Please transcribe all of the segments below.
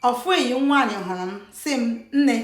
ofu enyi m nwaanyị hụrụ m sị m nne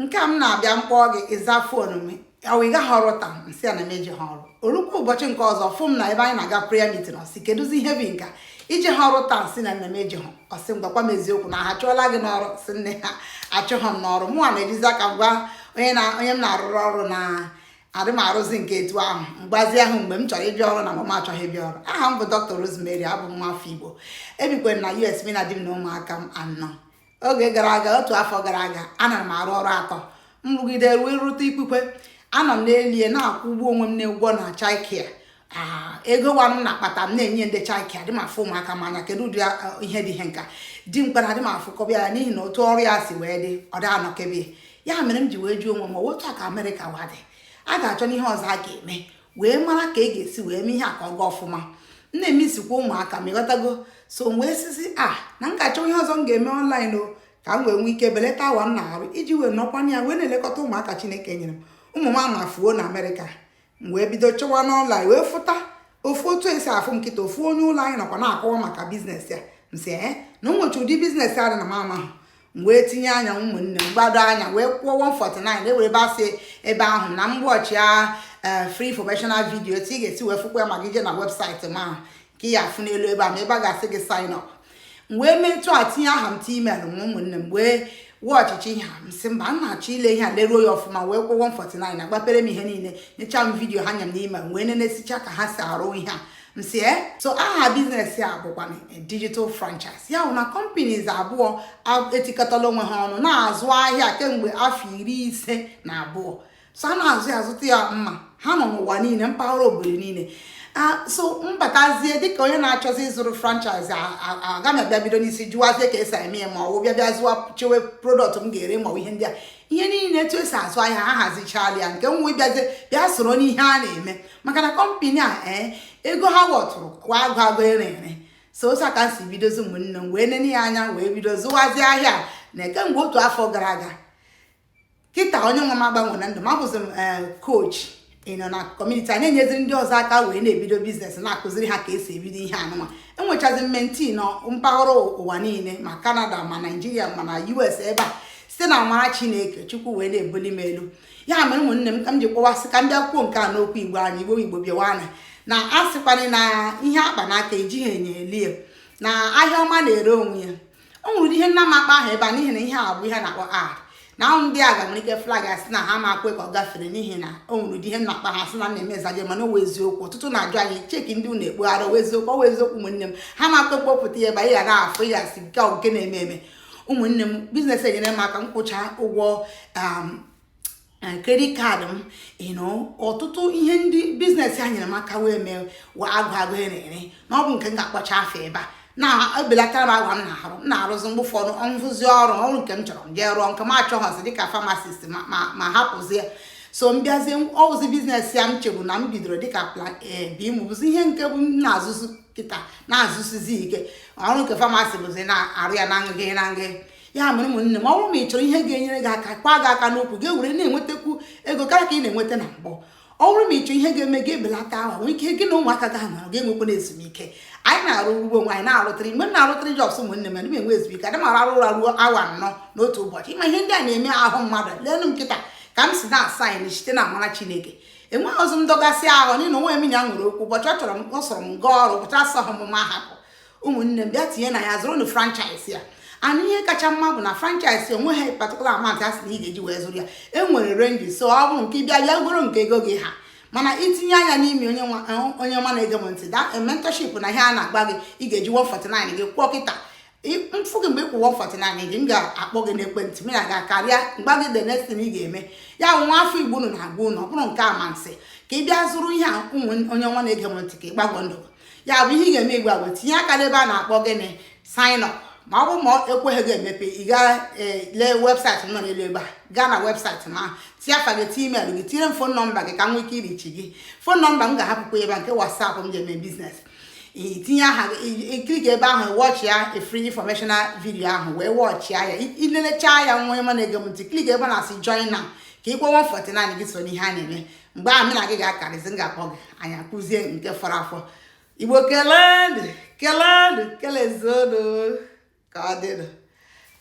nke a m na-abịa m kpọọ gị ị zaa phone m ọ wụ ị gaghị ọrụ taa m sị ya na m ejehụ ọrụ o rukwa ụbọchị nke ọzọ ọ fụ m na ebe anyị na-aga prayer meeting ọ sị kedụzi ihe bụ nke a i jehụ ọrụ taa m sị na nne m ejehụ ọ sị m gwakwa m eziokwu na ha chụọla gị n'ọrụ sị nne ha achụghị m n'ọrụ mụnwa na-ejizi aka m gwa onye m na-arụrụ ọrụ na adị m arụzi nke etu ahụ mgbazi ahụ mgbe m chọrọ ịbịa ọrụ na ma m achọghị ịbịa ọrụ aha m bụ dr rosemary abụ m nwafọ igbo ebikwere na us mụ na di m na ụmụaka m anọ oge gara aga otu afọ gara aga ana m arụ ọrụ atọ m rụgide ruo ịrụta ikpukwe anọ m n'elie na-akwụ ụgwọ onwe m na ụgwọ na childcare Ah, ego wa m na-akpata m na-enye ndị childcare adị m afụ ụmụaka m anya kedu ụdị ah, ihe dị ihe nke a di m kpara adị m afụkebe ya n'ihi na otu ọrụ ya si wee dị ọ dị anọkebe ya mere m ji wee jụọ onwe m otu a ka amerịka wa dị a ga-achọnụ ihe ọzọ a ga-eme wee mara ka a ga-esi wee mee ihe a ka ọ gaa ọfụma m na-emezikwa ụmụaka m ị ghọtago so m wee sịzie ah, na m ga-achọ ihe ọzọ m ga-eme online o ka m wee nwee ike belata awa m na-arụ iji wee nọkwa ya wee na-elekọta ụmụaka chineke nyere m ụmụ m ama efuo na amerịka m wee bido chọwa n'online wee fụta ofu otu e si afụ m kịta ofu onye ụlọ anyị nọkwa na-akọwa maka business ya m sị ee na o nwezi ụdị business a dị na m amahụ m wee tinye anya ụmụnne m gbado anya wee kwụọ 149 e nwere ebe a sị ebe ahụ na m watch a eh, free informational video etu ị ga-esi wee fụkwa ya ma gị jee na website m ahụ nke ị ya-afụ n'elu ebe a ma ebe a ga-asị gị sign up m wee metụ ya tinye aha m tinye email m ụmụnne m m wee watchịchaa ihe a m sị mba m na-achọ ile ihe a leruo ya ọfụma wee kwụọ 149 a gbapeere m ihe niile nyecha m video ha nye m n'email m wee nenesịchaa ka ha si arụ ihe a m sị ee so aha business a bụkwa eh, digital franchise ya bụ na companies abụọ etikọtala onwe ha ọnụ na-azụ ahịa kemgbe afọ iri ise na abụọ so a na-azụ ya azụta ya mma ha nọ n'ụwa niile mpaghara obodo niile so m batazie dịka onye na-achọzi ịzụrụ franchise aga m abịa bido n'isi jụwazie ka e si eme ya ma ọ bụ bịa zụwa chewe product m ga-ere ma ihe ndị a ihe niile etu e si azụ ahịa ha hazichala ya nke m wụ ịbịazie bịa soro n'ihe a na-eme maka na company a ee eh, ego ha wọtụrụ kwa agwụ agwụ ere ere so otu a ka m si bidozi ụmụnne m wee nene ya anya wee bido zụwazie ahịa na kemgbe otu afọ gara aga kịta onye nwe m agbanwena ndụ m abụzi m coach eh, ịnọ na community a na-enyeziri ndị ọzọ aka wee na-ebido business na-akụziri ha ka e si ebido ihe a nụnwa enwechazi m mentee nọ mpaghara ụwa niile ma canada ma nigeria ma na us ebe a site na amara chineke chukwu wee na-ebuli m elu ya mere ụmụnne m ka m ji kpọwa sị ka m bịa kwuo nke a n'okwu igbo anyị igbo igbo bịawanụ na a sịkwanụ na ihe a kpa n'aka ejighị enyo ele ya na ahịa ọma na-ere onwe ya o nwere ihe m na-ama akpọ aha ebe a n'ihi na ihe a bụ ihe na-akpọ a na ahụ ndị a ga nwere ike flag asị na ha ama ekwe ka ọ gafere n'ihi na o nwere ụdị ihe m na-akpọ aha sị na na-eme zaje mana ọ wụ eziokwu ọtụtụ na-ajụ anyị cheki ndị unu ekpogharị ọ wụ eziokwu ọ wụ eziokwu ụmụnne m ha ama ekwe m kpọpụta ya ebe anyị ghara afọ ya asị nke nke na-eme eme ụmụnne m biznes a nyeere m aka m kwụchaa ụgwọ um, eh, credit card m you know ọtụtụ ihe ndị biznes a nyeere m aka wee mee wee agụ agụ ere ere na ọ bụ nke m ga-akpọcha afa ebe a na o belataara m awa m na-arụ m na-arụzi mgbe ụfọdụ m rụzie ọrụ ọrụ nke m chọrọ m jee rụọ nke m achọghọzi dịka famasist m ahapụzie so m bịazie ọ wụzi biznes a m chebu na m bidoro dịka plan A eh, B m bụzi ihe nke bụ m na-azụzi kịta na-azụsizi ike ọrụ nke famasi bụzi na-arụ ya na ngịgị na ngị ya mere ụmụnne m ọ bụrụ ma ị chọrọ ihe ga-enyere gị aka kwa gị aka n'okwu gị ewere na-enwetakwu ego karịa ka ị na-enweta na mbụ ọ bụrụ ma ị chọọ ihe ga-eme gị ebelata awa nwee ike gị na ụmụaka gị anọ gị enwekwanụ ezumike anyị na-arụ ugbo nwe anyị na-arụ three mgbe m na-arụ three jobs ụmụnne m na enwe ezumike adị m arahụ arahụ ụra ruo awa anọ n'otu ụbọchị ị ma ihe ndị a na-eme ahụ mmadụ leenụ m kịta ka m si na-ashaịn site na amara chineke enweghị ozi ndọgasị ahụ n'ihi na onweghị m na ya nwere okwu ụbọchị ọ chọrọ m ọ sọrọ m gaa ọrụ ụbọchị ọ sọghị m m ahapụ ụmụnne m bịa tinye na ya zụrụnụ franchise a and ihe kacha mma bụ na franchise onweghị particular amount a sị na ị ga-eji wee zụrụ ya e nwere range so ọ bụrụ nke bịa bịa goro nke ego gị ha mana i tinye anya n'ime onye eh, onye ọma na-ege m ntị the eh, mentorship na ihe a na-agwa gị ị ga-eji 149 gị kwụọ kịta m fụ gị mgbe ị kwụọ 149 gị m ga-akpọ gị n'ekwentị m na gị akarịa m gwa gị the next thing ị ga-eme ya bụ nwa afọ igbo unu na-agwa unu ọ bụrụ nke amasị ka ị bịa zụrụ ihe a um, onye ọma na-ege m ntị ka ị gbanwo ndụ ya bụ ihe ị ga-eme ị wee gaa tinye aka n'ebe a na-akpọ gịnị sign up ma ọ bụ ma o kweghị gị emepe ị gaa e, lee webụsaịtị m nọ n'elu ebe a gaa na webụsaịtị m ahụ tinye afa gị tinye email gị tinyere m fon nọmba gị ka m nwee ike irichi gị fon nọmba m ga-ahapụkwa ebe a nke wasapụ m ji eme biznes i tinye aha i klik ebe ahụ wọchịa free informational video ahụ wee wọchịa ya i lelechaa ya nwa ọma na-ege m ntị klik ebe na-asị join now ka ị kwụọ 149 gị so n'ihe a na-eme mgbe ahụ m na gị ga-akarịzi m ga-akpọ gị anyị ekwuzie nke fọrọ afọ igbo kelenụ kelenụ kelezuonụ ka ọ dịnụ